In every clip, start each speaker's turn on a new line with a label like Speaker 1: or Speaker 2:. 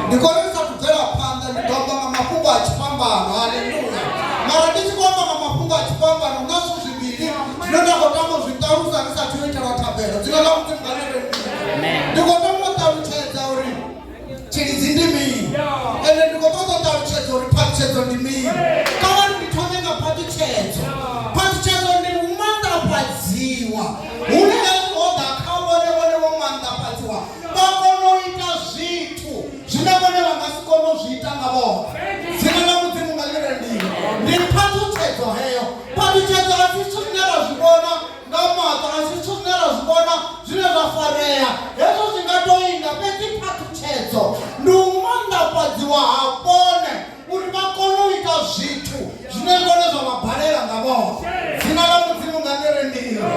Speaker 1: ndi konisa kubvela phanḓa ndi ḓo amba nga mafhungo a tshifhambano haleluya mara ndi tshi khou amba nga mafhungo a tshifhambano nga zwithu zwivhili zwine nda khou tama u zwi ṱalusa ri sa tea u itelwa thabelo dzina ḽa mudzimu nga lele ndi khou tama u ṱalutshedza uri tshilidzi ndi mini ende ndi khou ṱoḓa u ṱalutshedza uri phaṱhutshedzo ndi mini kha vha ndi thome nga phaṱhutshedzo phaṱhutshedzo ndi u manḓafhadziwa hune vha kona u ita zwithu zwine vhone vha nga si kone u zwi ita nga vhoṱhe dzina ḽa mudzimu nga ḽi rendiwe ndi phathutshedzo heyo phathutshedzo a si zwithu zwine ra zwi vhona nga maṱo a si zwithu zwine ra zwi vhona zwine zwa farea hezwo zwi nga to inga fhedzi phathutshedzo ndi u manḓafhadziwa ha vhone uri vha kone u ita zwithu zwine ngone zwa vha balela nga vhoṱhe dzina ḽa mudzimu nga ḽere ndilo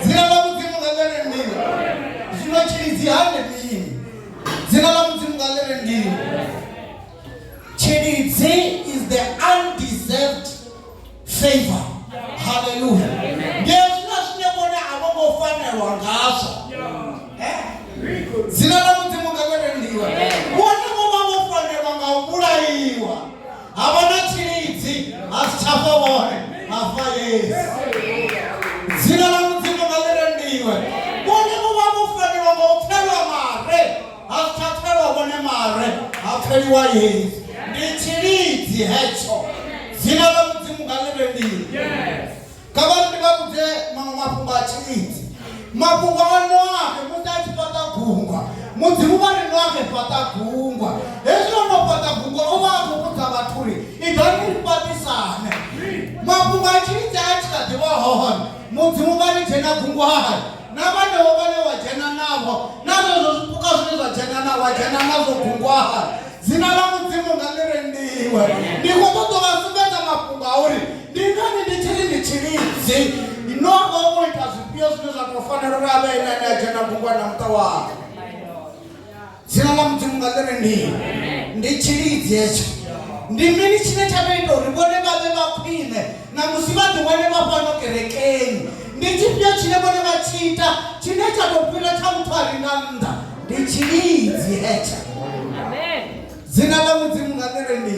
Speaker 1: dzina ḽa mudzimu nga ḽere ndilo zwino tshilidzi hande mini dzina ḽa mudzimu nga ḽere ndilo tshilidzi is the undeserved favor haleluya ndi hezwina zwine vhone a vho ngo fanelwa ngazwo dzina ḽa mudzimu nga ḽerendiwa vhone vho vha vho fanelwa nga u vhulaiwa ha vha na tshilidzi ha si tsha fa vhone ha fa yesu dzina ḽa mudzimu nga ḽerendiwe vhone vho vha vho fanelwa nga u pfelwa mare ha fhaṱelwa vhone mare ha pfeliwa yesu ndi tshilidzi hetsho dzina ḽa mudzimu nga ḽi rendiwe kha vha ndi vha vhudze maṅwe mafhungo a tshilidzi mafhungo a noahe musi a tshi fhaṱa gungwa mudzimu vha ri noahe fhaṱa gungwa hezwi o no fhaṱa gungwa o vha a khou vhudza vhathu uri idzani ri fhaṱisane mafhungo a tshilidzi a tshi kha ḓi vha hone mudzimu vha ri dzhena gungwa hae na vhanevho vhane wa dzhena navho na zwezwo zwipuka zwine zwa dzhena na wa dzhena nazwo gungwaha dzina ḽa mudzimu nga ḽi rendiwe ndi khou ṱoḓa vha sumbedza mafhungo a uri ndi ngani ndi tshi ri ndi tshilidzi no vha wo ita zwifhio zwine zwa tou fanela uri a vhe ene ane a dzhena gungwa na muṱa wanga dzina ḽa mudzimu nga ḽi ri ndi ndi tshilidzi hetsho ndi mini tshine tsha vha ita uri vhone vha vhe vha khwine na musi vha ḓiwane vha fhano kerekeni ndi tshifhio tshine vhone vha tshi ita tshine tsha tou fhira tsha muthu a re nga nnḓa ndi tshilidzi hetsho dzina ḽa mudzimu nga ḽi ri ndi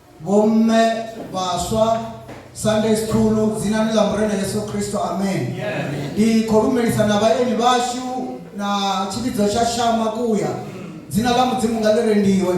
Speaker 1: Vhomme vhaswa Sunday school dzinani ḽa Murena Yesu Kristo amen. Ndi khou lumelisa na vhaeni vhashu na tshivhidzo tsha shama kuya dzina ḽa mudzimu nga ḽi rendiwe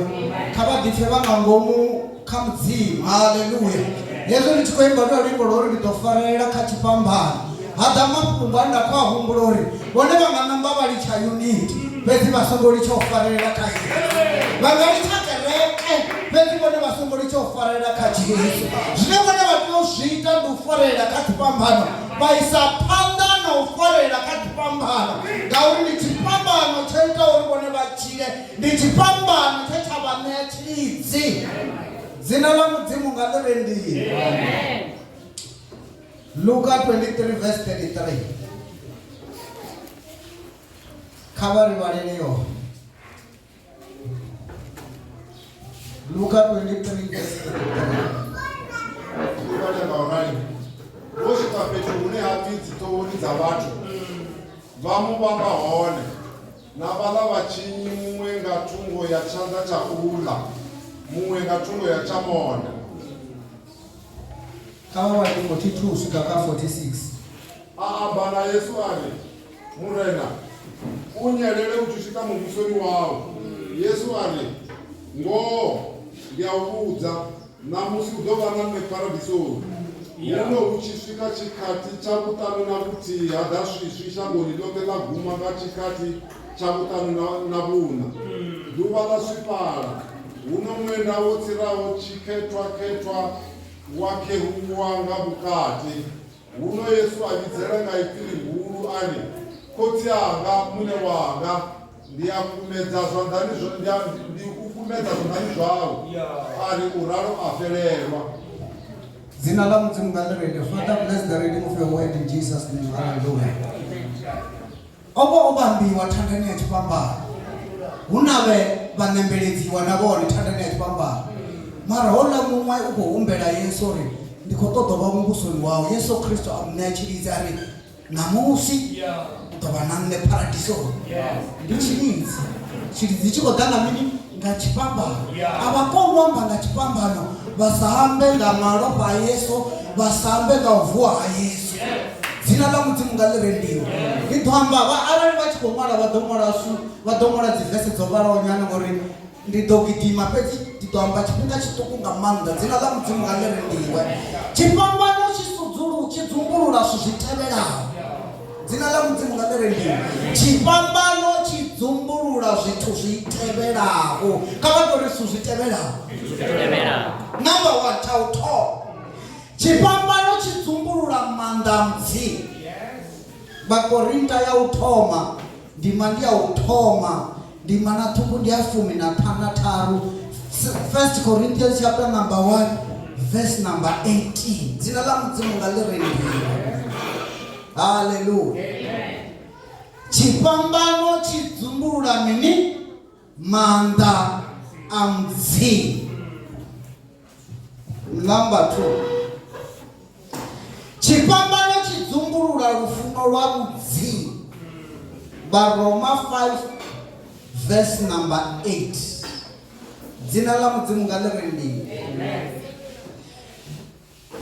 Speaker 1: kha vha ḓipfe vha nga ngomu kha mudzimu haleluya hezwo ndi tshi khou imba lwa luimbo lwo ri ndi ḓo farelela kha tshifhambano ha ḓa mafhungo a nda khou a humbula uri vhone vha nga namba vha litsha unit fhedzi vha songo litsha u farelela kha yesu vha nga litsha kereke fhedzi vhone vha songo litsha u farelela kha jesu zwine vhone vha tea u zwi ita ndi u farelela kha dzifhambano vha isa phanḓa na u farelela kha dzifhambano ngauri ndi tshifhambano tsho ita uri vhone vha tshile ndi tshifhambano tshe tsha vha ṋea tshilidzi dzina ḽa mudzimu nga ḽi rendiwe Luka 23 verse 33 kha vha ri vhalele yone luka 23 verse
Speaker 2: 33 vhale nga u rali vho swika fhethu hune ha pfi dziṱohoni dza vhathu vha mu vhamba hone na vhaḽa vhatshinyi muṅwe nga thungo ya tshanḓa tsha uḽa muṅwe nga thungo ya tsha mona
Speaker 1: Kha vha vhale 42 uswika kha 46. A amba
Speaker 2: na Yesu a ri, Murena, u nyelele u tshi swika muvhusoni wau. Yesu a ri, Ngoho ndi a u vhudza, ṋamusi u ḓo vha na nṋe Paradisoni. Huno hu tshi swika tshikhathi tsha vhuṱanu na vhuthihi ha ḓa swiswi shangoni ḽoṱhe ḽa guma nga tshikhathi tsha vhuṱanu na, na vhuṋa. Ḓuvha ḽa swifhala. Huno ṅwenda wo tsiraho tshikhethwa-khethwa. wa kheruwa nga vhukati. Huno Yesu a vhidzela nga ipfi ḽihulu a ri, Khotsi anga, Muṋe wanga, ndi a kumedza zwanḓani zwa ndi a- ndi u kumedza zwanḓani zwau. A ri u ralo a fhelelwa.
Speaker 1: Dzina ḽa Mudzimu nga ḽi renge. Father, bless the reading of your word in Jesus' name. Hallelujah. O vha o vhambiwa thandani ya tshifhambano, hu na vhe vha nembeledziwa na vhone thandani ya tshifhambano. Mara houḽa muṅwe u khou humbela Yesu uri, Ndi khou ṱoḓa u vha muvhusoni wau. Yesu Kristo a mu ṋea tshilidzi a ri, Ṋamusi u ḓo vha na nṋe Paradisoni. Ndi tshilidzi. Tshilidzi tshi khou ḓa nga mini? nga tshipambano a vha koni u amba nga tshipambano vha sa ambe nga malofha a yesu vha sa ambe nga u vuwa ha yesu dzina ḽa mudzimu nga ḽi rendiwa ndi ḓo amba vha arali vha tshi khou ṅwala vha ḓo ṅwala su vha ḓo ṅwala dzivese dzo vhalaho nyana ngori ndi ḓo gidima fhedzi ndi ḓo amba tshifhinga tshiṱuku nga maanḓa dzina ḽa mudzimu nga ḽi rendiwe tshifhambano tshi sudzulu tshi dzumbulula zwithu zwi tevhelaho Dzina ḽa Mudzimu nga ḽire ndimo. Tshifhambano tshi dzumbulula zwithu zwi tevhelaho. Kha vha tori zwithu zwi tevhelaho. Number 1 tsha u thoma. Tshifhambano tshi dzumbulula maanḓa a Mudzimu. Vhakorinta ya u thoma ndima ndi ya u thoma ndima na ṱhukhu ndi ya fumi na ṱhanu na tharu first corinthians chapter number 1 verse number 18 dzina ḽa mudzimu nga ḽi ri haleluya tshifhambano tshi dzumbulula mini maanḓa a mupfi number 2 tshifhambano tshi dzumbulula lufuno lwa vhudzi vharoma 5 verse number 8 dzina ḽa mudzimu nga ḽi ri ndini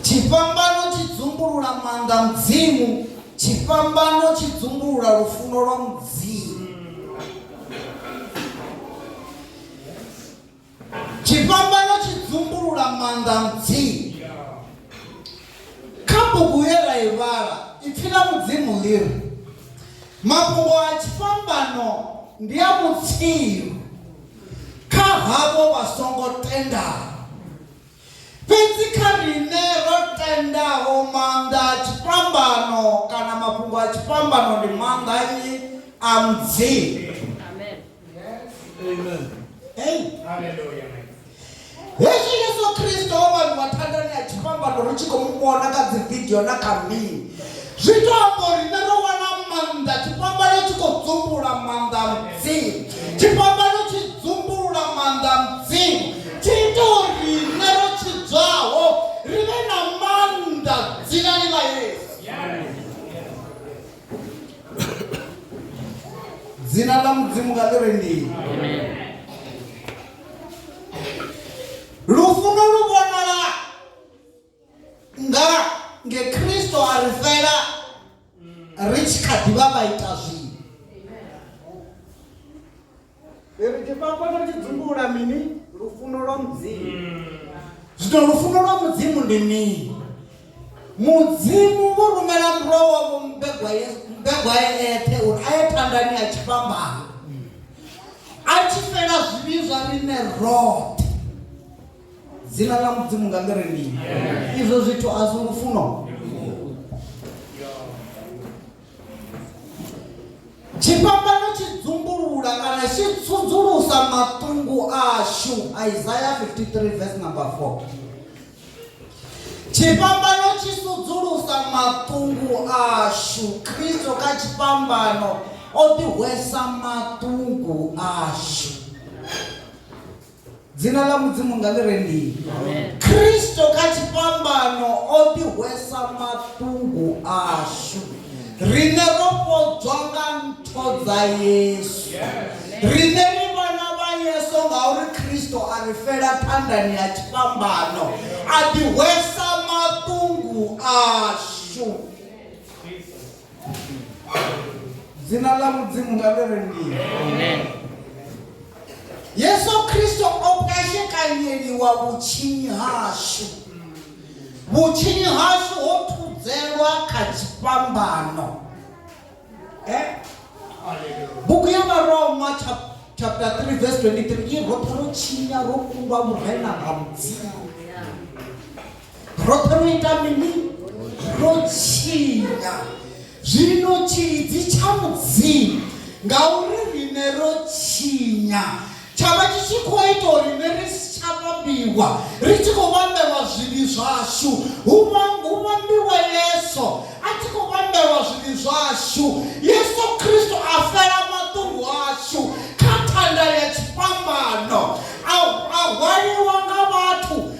Speaker 1: Tshifhambano tshi dzumbulula maanḓa a Mudzimu. Tshifhambano tshi dzumbulula lufuno lwa Mudzimu. Tshifhambano tshi dzumbulula maanḓa a Mudzimu. Kha bugu ye ra i vhala, ipfi ḽa Mudzimu ḽi ri, Mafhungo a tshifhambano ndi a vhutsilu kha havho vha songo tendaho. Fhedzi kha riṋe ro tendaho, maanḓa a tshifhambano kana mafhungo a tshifhambano ndi maanḓa a nnyi? A Mudzimu. Hezwi Yesu Kristo o vhaliwa thandani ya tshifhambano ri tshi khou mu vhona kha dzividio na kha mini, zwi tou amba uri riṋe ro wana maanḓa. Tshifhambano tshi khou dzumbulula maanḓa a Mudzimu. Tshifhambano tshi dzumbulula maanḓa a Mudzimu. Tshi ita uri riṋe ro tshidzwaho ri vhe na maanḓa dzinani ḽa Yesu. Dzina ḽa Mudzimu kha ḽi re ndi. Lufuno lu vhonala nga nge khristo a ri fela ri tshi kha ḓi vha vha ita zwino ri tshi fhafha ri tshi dzumbula mini lufuno lwa mudzimu zwino lufuno lwa mudzimu ndi mini mudzimu vho rumela murwa wavho mbegwa ye mbegwa ye eṱhe uri a ye phanḓani a tshi fhambana a tshi fela zwivhi zwa riṋe roṱhe dzina ḽa mudzimu nga ngere mini izwo zwithu a zwi lufuno tshifhambano tshi dzumbulula kana tshi tsudzulusa matungu ashu isaya 53 vs number 4 tshifhambano tshi sudzulusa matungu ashu kristo kha tshifhambano o ḓihwesa matungu ashu dzina ḽa mudzimu nga ḽi re ndini kristo kha tshifhambano o ḓihwesa maṱungu ashu riṋe ro fhodzwa nga ntho dza yesu riṋe ri vhana vha yesu ngauri kristo a ri fela phandani ya tshifhambano a ḓihwesa maṱungu ashu dzina ḽa mudzimu nga ḽi rengiwa yesu kristo o pwashekanyeliwa vhutshinyi hashu vhutshinyi hashu ho thudzelwa kha tshifhambano eh? bugu ya varoma chapter 3 verse 23 i roṱhe ro tshinya ro kundwa murena nga mudzimu roṱhe ro ita mini ro tshinya zwino tshilidzi tsha mudzimu ngauri rine ro tshinya tsha vha tshi tshi khou ita uri ne ri si tsha vhambiwa ri tshi khou vhambelwa zwivhi zwashu hu vhambiwa yesu a tshi khou vhambelwa zwivhi zwashu yesu kristo a fela maṱungu ashu kha thanda ya tshifhambano a hwaliwa nga vhathu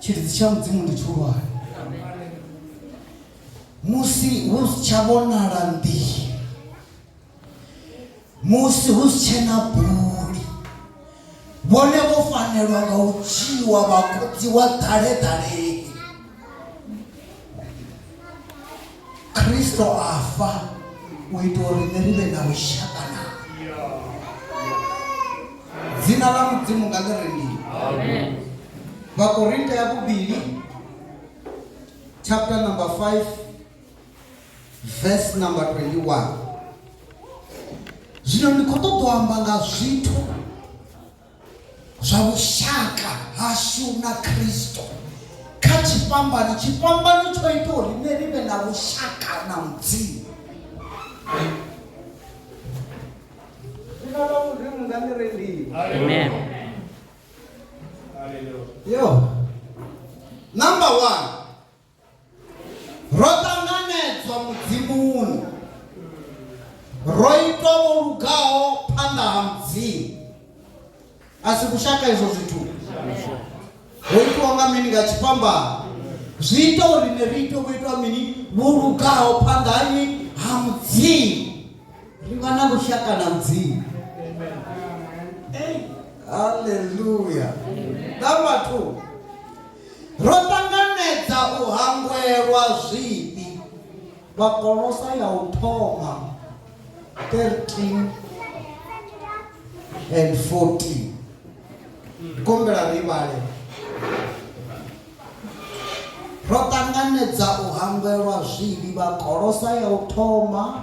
Speaker 1: tshiridzi tsha mudzimu ndi tshihulwane musi hu si tsha vhonala nḓihi musi hu si tshena buli vhone vho fanelwa nga u dzhiwa vhakodziwa ḓaleḓaleni khristo a fa u ita uri ne ri vhe na vhushaka na dzina ḽa mudzimu nga ḽi ri mini vhakorinte ya vhuvhili chapter number 5 verse number 21 zwino ndi khou ṱoḓa u amba nga zwithu zwa vhushaka hashu na khristo kha tshifhambano tshifhambano tsho ita uri nṋe ri vhe na vhushaka na mudzimu Sina ba modimo nga ni rendile. Amen. Yo. Number one. ro ṱanganedzwa mudzimuni ro itwa vho lugaho phanḓa ha mudzimu a si kushaka izwo zwithu ho itwa nga mini nga tshifhambano zwi ita uri ne ri ite vho itwa mini vho lugaho phanḓa hani ha mudzimu ri vha na lushaka na mudzimu halleluya na vhathu Ro ṱanganedza u hangwelwa zwifhi? Vhakolosa ya u thoma 13 and 14 ndi kombela ri vhale ro ṱanganedza u hangwelwa zwivhi vhakolosa ya u thoma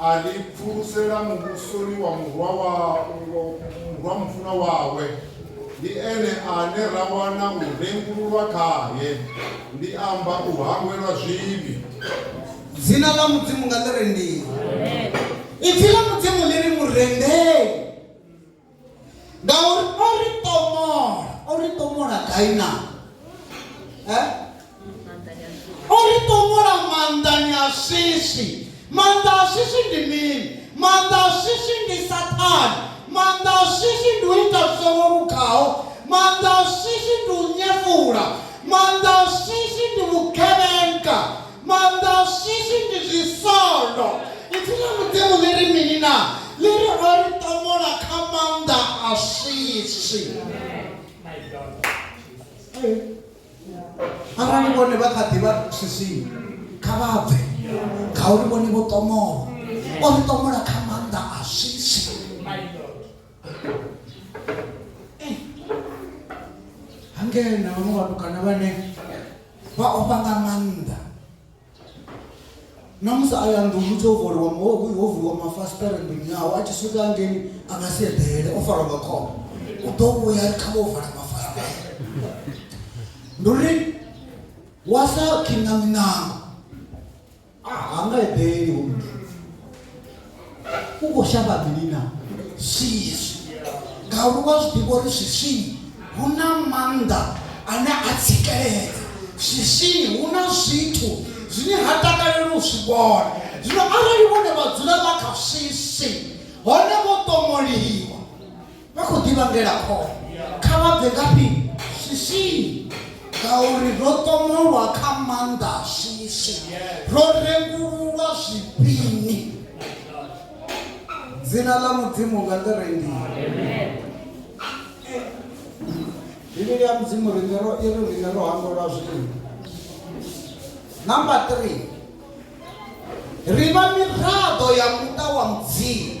Speaker 2: A ri pfulusela muvhusoni wa Murwa wa Murwa mufunwa wawe. Ndi ene ane ra wana u rengululwa khae, ndi amba u hangwelwa zwivhi. Dzina
Speaker 1: ḽa Mudzimu nga ḽi rendiwe. Ipfi ḽa Mudzimu ḽi ri, Mu rendeni. ngauri o ri pomola o ri pomola gai na eh? o ri pomola maanḓani a swiswi maanḓa a swiswi ndi mini maanḓa a swiswi ndi sathane maanḓa a swiswi ndi u ita zwi songo lugaho maanḓa a swiswi ndi u nyefula maanḓa a swiswi ndi vhugevhenga Mandawushishi ndi zwisondo. Ipfi ḽa Mudzimu ḽi ri mini na? Ḽi ri o ri ṱomola kha maanḓa a shishi. Arali vhone vha kha ḓivha swisini kha vha bve ngauri vhone vho ṱomola. O ri ṱomola kha maanḓa a shishi. hangena vhaṅwe vhatukana vhane vha ofha nga maanḓa na musi a ya nḓuni tsho vuliwa ho vuliwa mafasiṱere nḓuni yawe a tshi swika ngeni a nga si eḓele o farwa nga khombo u ḓo vhuya kha vho vala mafasiṱere ndi uri wa sa khinga minango a ha nga eḓeli hu muthu u khou shavha mini na swiswi ngauri wa zwi ḓivha uri swiswini hu na maanḓa ane a tsikeledza swiswini hu na zwithu zwine ha takaleli u zwi vhona zwino arali vhone vha dzula vha kha swiswi hone vho ṱomoliwa vha khou ḓi vhangela khole kha vha bve ngafhi swiswini ngauri ro ṱomolwa kha maanḓa a swiswi ro rengululwa zwifhini dzina ḽa mudzimu nga ḽi rendiwa bivhili ya mudzimu rine ro iri rine ro hangolwa zwifhini number three ri vha miraḓo ya muṱa wa mudzimu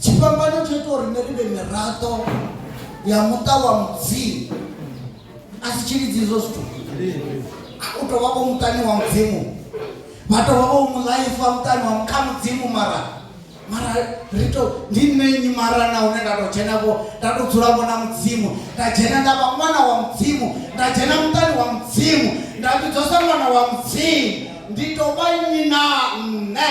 Speaker 1: tshifhambano tsho ita uri nṋe ri vhe miraḓo ya muṱa wa mudzimu a si tshilidzi izwo zwithu u tou vha vho muṱani wa mudzimu vha tou vha vho mulaifa muṱani wa kha mudzimu mara mara ri to ndi nṋe nnyi mara na hune nda tou dzhena vho nda tou dzula vho na mudzimu nda dzhena nda vha ṅwana wa mudzimu nda dzhena muṱani wa mudzimu nda vhidzwa sa ṅwana wa mudzimu ndi tou vha nnyi na nṋe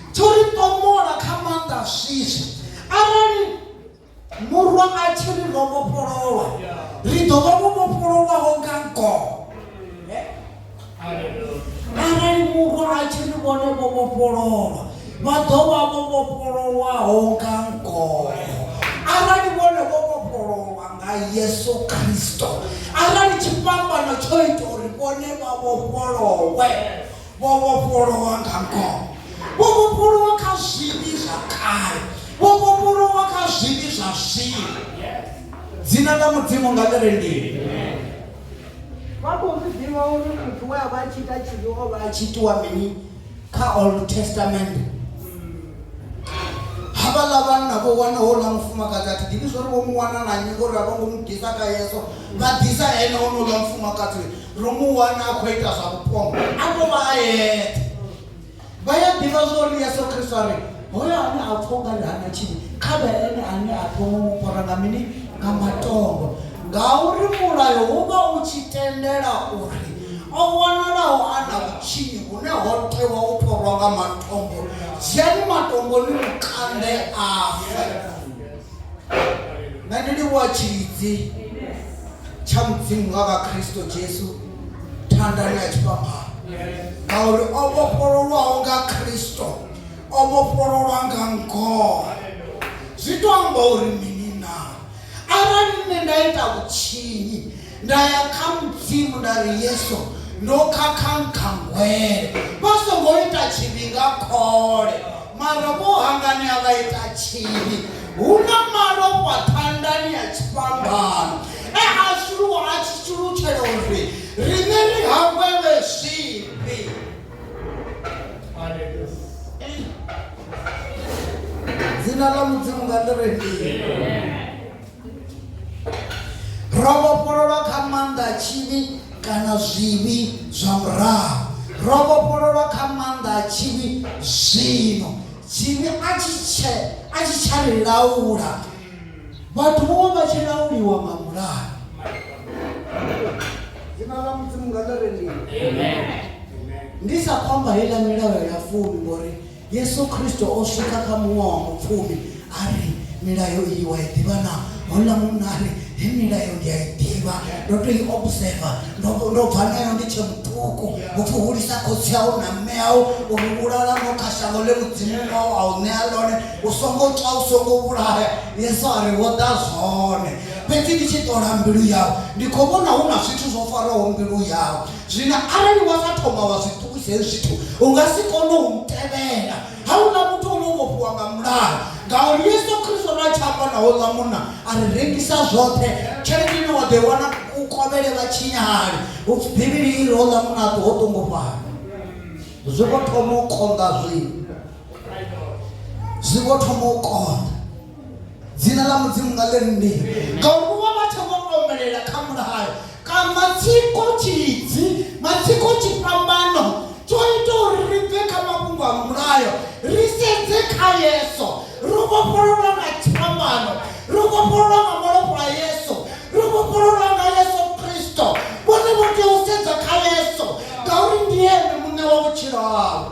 Speaker 1: tsho ri tomola kha maanḓa swiswi arali murwa a tshi ri ro vhofhololwa ri ḓo vha vho vhofhololwaho nga ngoho arali murwa a tshi ri vhone vho vhofhololwa vha ḓo vha vho vhofhololwaho nga ngoho arali vhone vho vhofhololwa nga yesu kristo arali tshifhambano tsho ita uri vhone vha vhofholowe Vho vhofholowa nga ngoho. Vho vhofholowa kha zwivhi zwa kale. Vho vhofholowa kha zwivhi zwa zwino. Dzina ḽa Mudzimu nga ḽi re ndini. Vha khou zwi ḓivha uri muthu we a vha a tshi ita tshivhi o vha a tshi itiwa mini kha Old Testament. Havhaḽa vhanna vho wana houḽa mufumakadzi a thi ḓivhi zwo ri vho mu wana na nnyi ngori a vho ngo mu ḓisa kha Yesu. Vha ḓisa ene honouḽa mufumakadzi ro mu wana a khou ita zwa vhupono a to vha a yeṱhe vha ya ḓivha zwa uri yesu kristo a ri hoyo ane a pfha ungari hana tshini kha vhe ene ane a thoma mu fara nga mini nga matombo ngauri mulayo wo vha u tshi tendela uri o vhonalaho a na vhutshinyi hune ho tewa u phorwa nga matombo dzhiani matombo ni mukande afe nṋe ndi livhuwa tshilidzi tsha mudzimu nga vha khristo jesu thandani ya tshifhambano ngauri o vhofhololwaho nga khristo o vhofhololwa nga ngoho zwi to amba uri mini na arali nṋe nda ita vhutshinyi Nda ya kha Mudzimu nda ri, Yesu, ndo khakha nkhangwele. Vha songo ita tshivhi nga khole, mara vho hanganea vha ita tshivhi. Hu na malofha thandani ya tshifhambano e a shuluwa a tshi shulutshela uri riṋe ri hangwelwe zwivhi. Dzina ḽa Mudzimu nga ḽi re fhio? ro vhofhololwa kha maanḓa a tshivhi kana zwivhi zwa murahu ro vhofhololwa kha maanḓa a tshivhi zwino tshivhi a tshi tshe a tshi tsha ri laula vhathu vho vha tshi lauliwa nga mulayo dzina ḽa mudzimu nga ḽa rendiwa ndi sa khomba heiḽa milayo ya fumi ngori Yesu Kristo o swika kha muṅwe wa mupfumi a ri milayo iyi wa i ḓivha na houḽa munna a ri he milayo ndi a i ḓivha ndo to i observa ndo bva nayo ndi tshe muṱuku upfi hulisa khotsi au na mme au uri vhulala no kha shango ḽe mudzimu wau a u ṋea ḽone u songo tswa u songo vhulaya yesu a ri wo ḓa zwone fhedzi ndi tshi ṱola mbilu yau ndi khou vhona hu na zwithu zwo faraho mbilu yau zwino arali wa nga thoma wa zwi ṱuwisa hezwi zwithu u nga si kone u ntevhela ha u na muthu ono vhofhiwa nga mulayo ngauri yesu khristo na tshi amba na houḽa munna a ri rengisa zwoṱhe tshelede ine wa ḓo i wana u kovhele vha tshinyahali u pfi bivhili i ri houḽa munna a ṱuho ṱungufhala zwi vho thoma u konḓa zwino zwi vho thoma u konḓa dzina ḽa mudzimu nga ḽe nnḓi ngauri vho vha vha tshe vho omelela kha mulayo kana matsiko tshidzi matsiko tshifhambano tsho ita uri ri bve kha mafhungo a mulayo ri sedze kha yeso ro vhofhololwa nga tshifhambano ro vhofhololwa nga malofha a yeso ro vhofhololwa nga yeso kristo vhone vho tea u sedza kha yeso ngauri ndi ene muṋe wa vhutshilo havho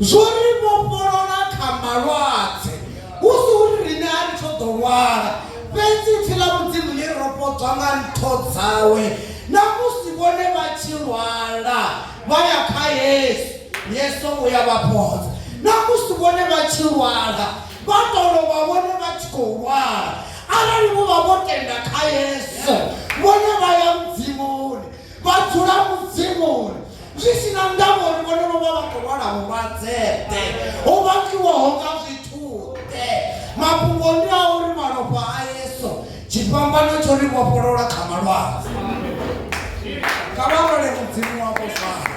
Speaker 1: zwo ri vhofholola kha malwadze hu si uri riṋe a ri tsho ḓo lwala fhedzi pfi ḽa mudzimu ḽi ro fhodzwa nga ntho dzawe na musi vhone vha tshi lwala vha ya kha yesu yesu u ya vha fhodza na musi vhone vha tshi lwala vha ḓo lovha vhone vha tshi khou lwala arali vho vha vho tenda kha yesu vhone vha ya mudzimuni vha dzula mudzimuni zwi si na ndavha uri vhone vho vha vha khou lwala vhulwadzeḓe ho vhakiwaho nga zwithuḓe mafhungo ndi a uri malofha a yesu tshifhambano tsho ri vhofholola kha malwadze kha vha lole mudzimu wavho fana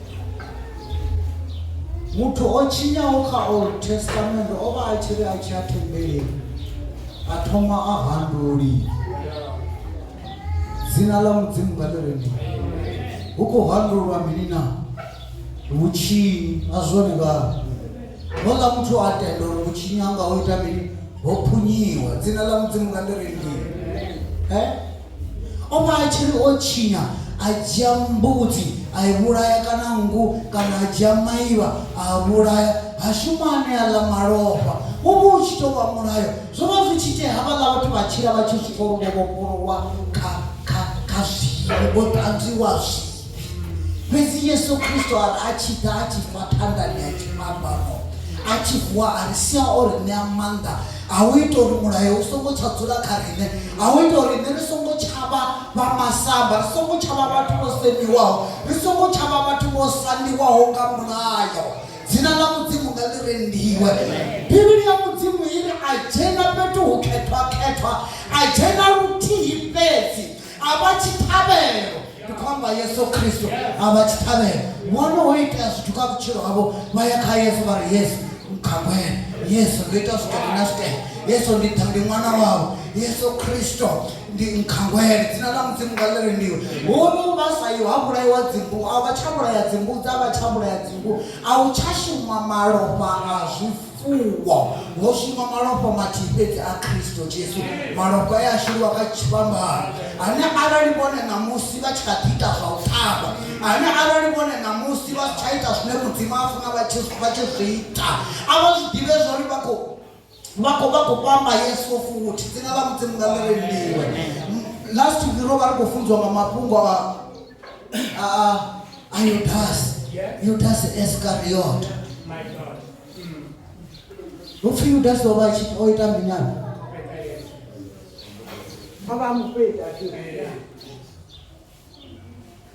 Speaker 1: muthu o tshinyaho kha old testament o vha a tshi ri a tshi a thembeleni a thoma a handuli dzina ḽa mudzimu nga ḽireni hu khou handulwa mini na vhutshinyi a zwone vhana Houḽa muthu a tenda uri vhutshinyi hanga ho ita mini ho phunyiwa dzina ḽa mudzimu nga ḽi rengiwe eh? o vha a tshi ri o tshinya a dzhia mbudzi a i vhulaya kana nngu kana a dzhia maivha a vhulaya ha shuma ane a ḽa malofha wo vha u tshi tou vha mulayo zwo vha zwi tshi tea havhaḽa vhathu vha tshila vha tshi zwi pfa uri vho vhofholowa kha kha kha zwii vho ṱanzwiwa zwii fhedzi yesu kristo a ri a tshi ḓa a tshi fa phanḓani ya tshifhambano a tshi vuwa a ri sia o ri ṋea maanḓa a u ita uri mulayo u songo tsha dzula kha riṋe a u ita uri nṋe ri songo tshavha vha masamba ri songo tshavha vhathu vho semiwaho ri songo tshavha vhathu vho sandiwaho nga mulayo dzina ḽa mudzimu nga ḽi rendiwe bivhili ya mudzimu i ri a dzhena fhethu hu khethwakhethwa a dzhena luthihi fhedzi a vha tshiṱhavhelo ndi khou amba yesu khristo a vha tshiṱhavhelo vhone ho itea zwithu kha vhutshilo havho vha ya kha yesu vha ri yesu mkhangwele yesu ndo ita zwithu ndi na zwitele yesu ndi ḓa ndi ṅwana wavho yesu khristo ndi nkhangwele dzina ḽa mudzimu nga ḽire ndiwe hunu vha sa yo ha vhulaiwa dzimbu a vha tsha vhulaya dzimbu dza vha tsha vhulaya dzimbu a u tsha shuma malofha a zwifu Fuwo, ho shuma malofha mathihi fhedzi a Kristo Jesu, malofha e a shuluwa kha tshifhambano, ane arali vhone ṋamusi vha tshi kha ḓi ita zwa u ṱhavha, ane arali vhone ṋamusi vha si tsha ita zwine Mudzimu a funa vha tshi vha tshi zwi ita, a vha zwi ḓivhe zwa uri vha khou vha khou vha khou vhamba Yesu futhi. Dzina ḽa Mudzimu nga ḽi rendiwe. M- Last week ro vha ri khou funziwa nga mafhungo a a a a Yudasi, Yudasi Iscariot.
Speaker 3: hupfi
Speaker 1: yudasi o vha a tshi o ita minyana
Speaker 4: vha vha mufhedza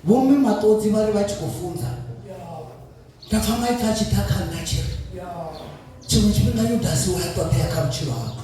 Speaker 1: vhomme maṱodzi vha ri vha tshi khou funza nda pfa maipfi a tshi ḓa kha nna tshi ri tshiṅwe tshifhinga yudasi wa ya ṱoḓea kha vhutshilo hako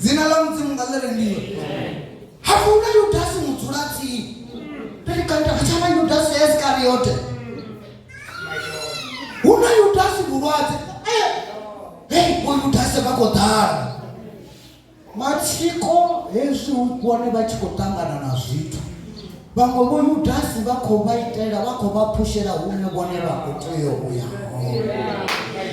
Speaker 1: dzina ḽa mudzimu nga ḽi rengiwe hafu na yudasi mudzula tsini pelikanta khatshana yudasi ya isikariote hu na yudasi vhulwadze eh, hei vho yudasi vha khou ḓala matsiko hezwi hu vhone vha tshi khou ṱangana na zwithu Vhaṅwe vho Yudasi vha khou vha itela, vha khou vha phushela hune vhone vha khou tea u ya hone.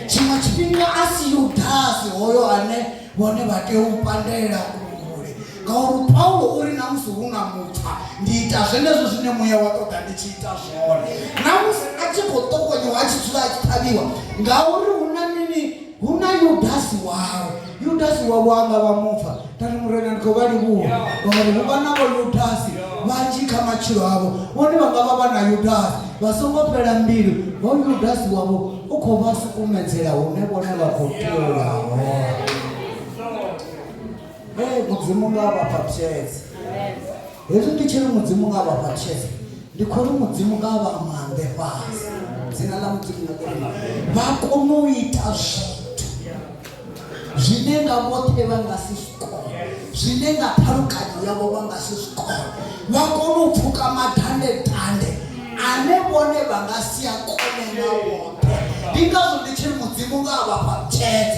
Speaker 1: Tshiṅwe tshifhinga a si Yudasi hoyo ane vhone vha tea u pandela kule, ngauri Paulo o ri na musi hu na mupfa ndi ita zwenezwo zwine muya wa ṱoḓa ndi tshi ita zwone. Na musi a tshi khou ṱokonyiwa a tshi dzula a tshi ṱhavhiwa ngauri hu na mini Hu na Yudasi wawe. Yudasi wavho a nga vha mupfa. Kani, Murena, ndi khou vha livhuha, ngauri hu vha na Vhoyudasi vhanzhi kha matshilo avho. Vhone vha nga vha vha na Yudasi vha songo fhela mbilu, hoyu Yudasi wavho u khou vha sukumedzela hune vhone vha khou tea u ya hone. Ee, Mudzimu nga a vha fha tshedza. hezwi ndi tshiri mudzimu nga vha fha tshese ndi khou ri mudzimu nga vha maanḓe fhasi dzina ḽa mudzimu nga kona vha kone u ita zwithu zwine nga vhoṱhe vha nga si zwi kone zwine nga ṱhalukanyo yavho vha nga si zwi kone vha kone u pfuka madande dande ane vhone vha nga si a kone nga vhoṱhe ndi ngazwo ndi tshiri mudzimu nga vha fha tshese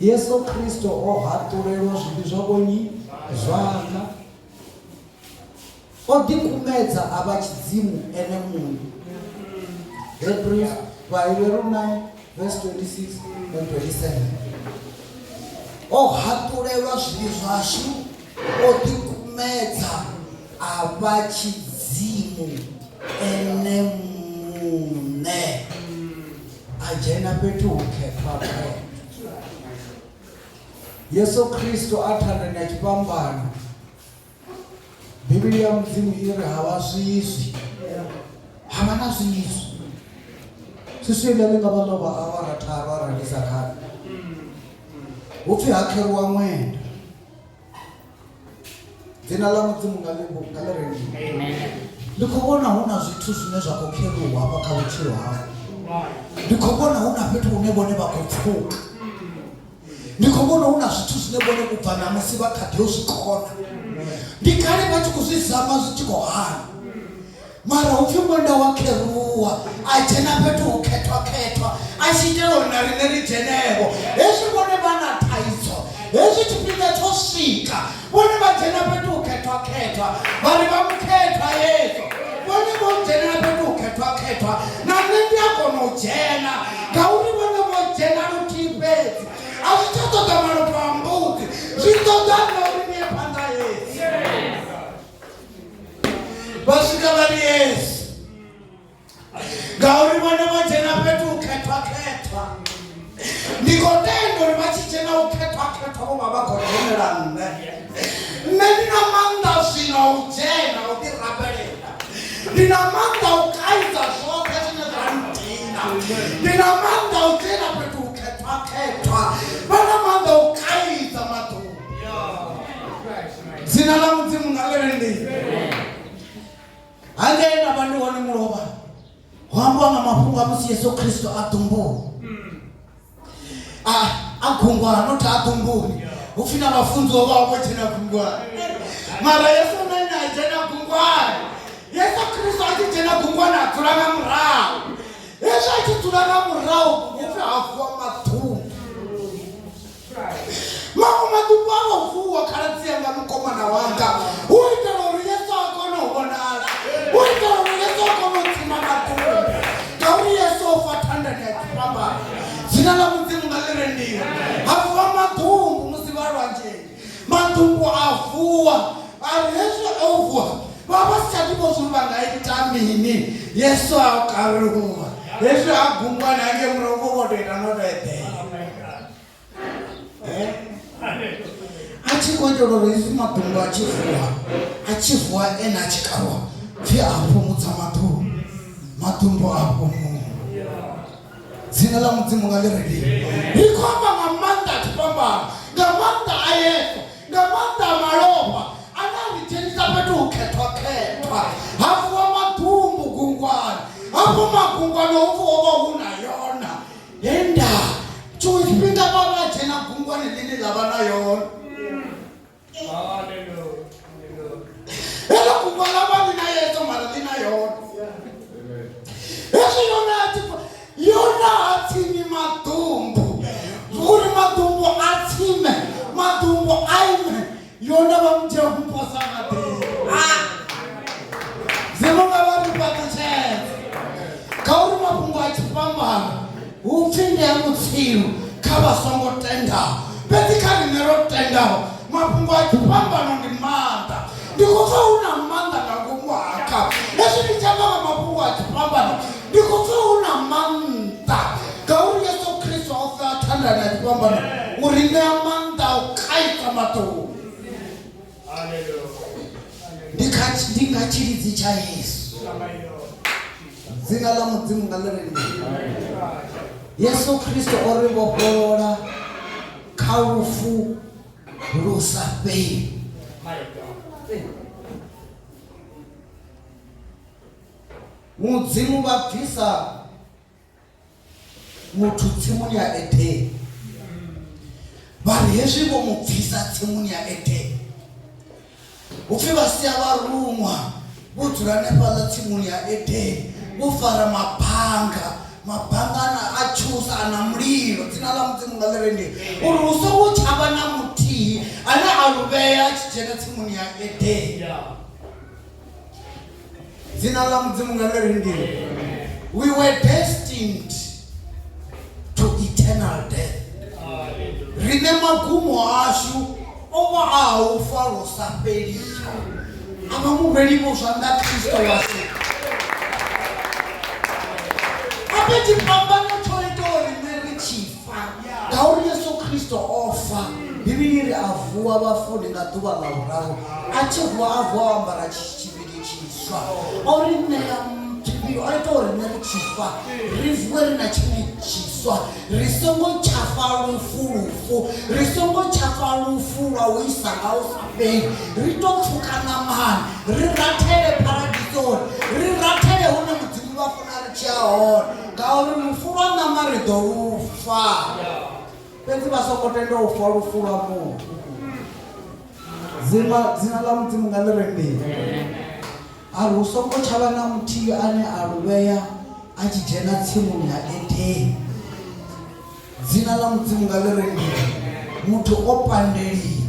Speaker 1: yesu kristo o haṱulelwa zwivhi zwa vhonyi zwana o ḓikumedza a vha tshidzimu ene muṋe hebrews vhaheberu 9 verse 26 and 27 o haṱulelwa zwivhi zwashu o ḓikumedza a vha tshidzimu ene muṋe A dzhena fhethu hukhethwa vhe. Yesu Kristo a thandani ya tshifhambano. Bivhili ya Mudzimu i ri ha vha zwizwi. Ha vha na zwizwi. Swiswi ḽe ḽi nga vha ḽo vha awara tharu arali ndi sa khavi. Hu pfi ha kheruwa ṅwenda. dzina ḽa mudzimu nga ḽi nga ḽi rengiwe
Speaker 3: ndi khou vhona hu
Speaker 1: na zwithu zwine zwa khou kheruwa hafha kha vhutshilo hau ndi khou vhona hu na fhethu hune vhone vha khou pfuka ndi khou vhona hu na zwithu zwine vhone u bva ṋamusi vha kha ḓi yo zwi kona ndi kale vha tshi khou zwi zama zwi tshi khou hana Mara hu pfi ṅwenda wa kheruwa a dzhena fhethu ho khethwa-khethwa a tshi itela uri na riṋe ri dzhenevho. Hezwi vhone vha na thaidzo, hezwi tshifhinga tsho swika, vhone vha dzhena fhethu ho khethwa-khethwa vha ri vha mukhethwa. Hezwo vhone vho dzhenela fhethu ho khethwa-khethwa, na nṋe ndi a kona u dzhena ngauri vhone vho dzhena luthihi fhedzi. A zwi tsha ṱoḓa malofha a mbudzi, zwi ṱoḓa nṋe uri ni ye phanḓa. Hezwi. vha swika vha ri yesu ngauri vhone vho dzhena fhethu u khethwa khethwa ndi khou tenda uri vha tshi dzhena u khethwa khethwa vho vha vha khou dzhenela nṋe nṋe ndi na maanḓa zwino u dzhena u ḓi rabelela ndi na maanḓa u kaidza zwoṱhe zwine zwa ndina ndi na maanḓa u dzhena fhethu u khethwa khethwa vha na maanḓa u kaidza maḓuvha dzina ḽa mudzimu nga ḽi ndi hangei nda vha ndi hone mulovha ho ambiwa nga mafhungo a musi yesu khristo a ḓumbuni a gungwana not a ḓumbuni hu pfi na vhafunziwa vha vho dzhena gungwana mara yesu na ine a dzhena gungwana yesu khristo a tshi dzhena gungwana a dzula nga murahu hezwi a tshi dzula nga murahu hu pfi ha vuwa maḓumbu maṅwe maḓuku a o vuwa khaladzi yanga mukomana wanga u itela uri yesu a kone u vhonala u itela uri yesu a kone u dzima maḓuku ngauri yesu o fa thandani ya dzifhambano dzina ḽa mudzimu nga ḽi rendiwa a vuwa maḓumbu musi vha lwanzheni maḓumbu a vuwa ari hezwi o vuwa vha vha si tsha ḓivha zwori vha nga ita mini yesu a kaluwa hezwi a gungwa na nge murahu vho vho to ita no to eḓela eh? a tshi khou itela uri hezwi maḓumbu a tshi vuwa a tshi vuwa ene a tshi kavha pfhi a fhumudza maḓumbu maḓumbu a fhumudza dzina ḽa mudzimu nga ḽirelii ri khou amba nga maanḓa a tshifhambano nga maanḓa a yesu nga maanḓa a malofha ane a ri dzhenisa fhethu u khethwakhethwa ha vuwa maḓumbu gungwani hafho magungwani ho vuwa vha hu na yona he ndaa tshiṅwe tshifhinga vha vha dzhena gungwane ḽine ḽa vha na yone heḽo gungwa ḽa vha ḽi na yedzo mara ḽi na yone hezwi yona yona ha tsimi maḓumbu uri maḓumbu a tsime maḓumbu a ime yona vha mu dzhia ku posa maḓi ha zemo nga vha ri fhaṱutshedza nga uri mafhungo a tshifhambano hu pfi ndi a mutsilu kha vha songo tendaho fhedzi kha rine ro tendaho mafhungo a tshifhambano ndi maanḓa ndi khou pfa hu na maanḓa nga ngomu haka hezwi ndi tshamba nga mafhungo a tshifhambano ndi khou pfa hu na maanḓa ngauri yesu kristo o fea thandani ya tshifhambano u ri ṋea maanḓa a u kaidza maṱoni ndi kha ndi nga tshilidzi tsha yesu dzina ḽa mudzimu nga ḽi ri yesu kristo o ri vhofholola kha lufu lu sa fheli Mudzimu vha bvisa muthu tsimuni ya Edeni vha ri hezwi vho mu bvisa tsimuni ya Edeni upfi vha sia vharuṅwa vho dzula hanefhaḽa tsimuni ya Edeni vho fara mabanga mabanga ana a tshusa ana mulilo dzina ḽa mudzimu nga ḽi rende uri hu songo tsha vha na muthihi ane a luvhea a tshi dzhena tsimuni ya Edeni dzina ḽa mudzimu nga ḽeri ndini we were destined to eternal death rine magumo ashu o vha a ha u fa lwo sa fheliho a vha muvhelivo zwanḓa kristo washu ape tshifhambano tsho ita uri nṋe ri tshi ngauri yesu khristo o fa bivhili ri a vuwa vhafuni nga ḓuvha ḽa vhuraru a tshi vuwa a vuwa o ambara tshivhili tshiswa o ri ṋea tshivhili o ita uri nṋe ri tshi fa ri vuwe ri na tshivhili tshiswa ri songo tsha fa lufu lufu ri songo tsha fa lufu lwa u isa nga u sa fheli ri to pfuka ṋamani ri rathele paradisoni ri rathele hune mudzimu vha funa ri tshi a hone Ngauri lufu lwa ṋama ri ḓo lu fa, fhedzi vha songo tenda u fa lufu lwa mufu. Dzima, dzina ḽa Mudzimu nga ḽi re mbili. A ri hu songo tsha vha na muthihi ane a lu vhea a tshi dzhena tsimuni ya Edeni. Dzina ḽa Mudzimu nga ḽi re mbili. Muthu o pandeliwa.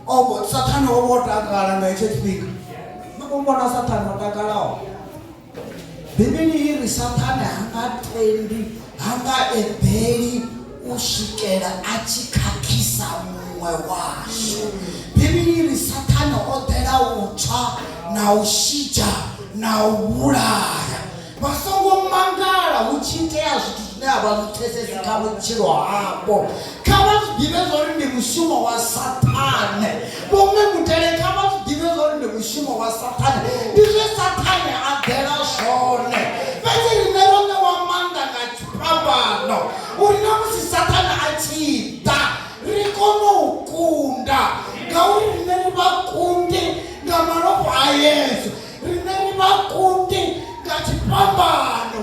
Speaker 1: O vho, Saṱhane o vha o takala nga hetsho tshifhinga. No mu vhona Saṱhane o takalaho? bivhili i ri saṱhane ha nga tendi ha nga eḓeli u swikela a tshi khakhisa muṅwe washu bivhili i ri saṱhane o ḓela u tswa na u shidzha na u vhulaya vha songo mangala hu tshi itea zwithu zwine a vha zwi pfesesi kha vhutshilo havho Kha vha zwi ḓivhe zwa uri ndi mushumo wa Saṱhane. Vho Mme Mutale kha vha zwi ḓivhe zwa uri ndi mushumo wa Saṱhane. Ndi zwe Saṱhane a ḓela zwone. Fhedzi riṋe ro ṋewa maanḓa nga phambano uri na musi Saṱhane a tshi ḓa, ri kone u kunda. Ngauri riṋe ri vhakundi nga malofha a Yesu. Riṋe ri vhakundi nga tshifhambano.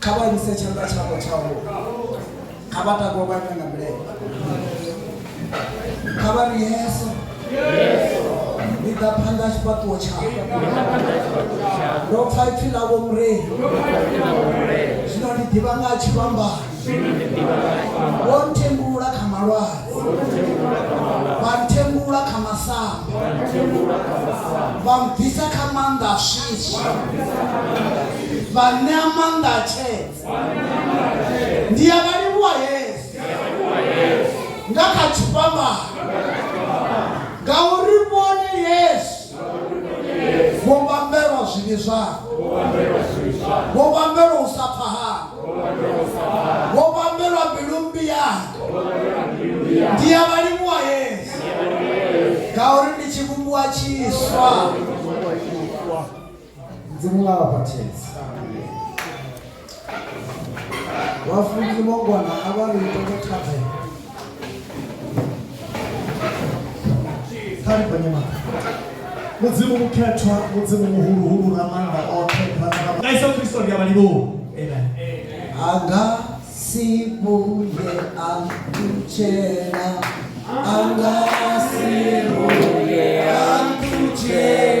Speaker 4: kha vha imise tshanḓa tshavho tshavho kha vha takuwe vha ime nga milenzhe kha vha ri yeso ni ḓa phanḓa tshifhaṱuwo tshavho ndo pfa ipfi ḽavho murei zwino ndi ḓivha nga ha tshivhambani wo ntembulula kha malwale vha ntembulula kha masambe vha mbvisa kha maanḓa a swiswi vha ṋea maanḓa a tshedza ndi ya vha livhuwa yesu nga kha tshifhambano ngauri vhone yesu vho vhambelwa zwivhi zwavho vho vhambelwa u sa pfa havho vho vhambelwa mbilu mmbi yavho ndi ya vhalimuwa yesu ngauri ndi tshivhumbiwa tshiswa mzimu nga vhabatedzi vhafunzi vhongwana a vha ri ita vhathathe kha ri gonye mara mudzimu mukhethwa mudzimu muhuluhulu na maanda oṱhe nga iso kristo ndi a
Speaker 5: vhalivhuwa anga
Speaker 1: si vhuye a ṱutshela anga si vhuye a ṱutshela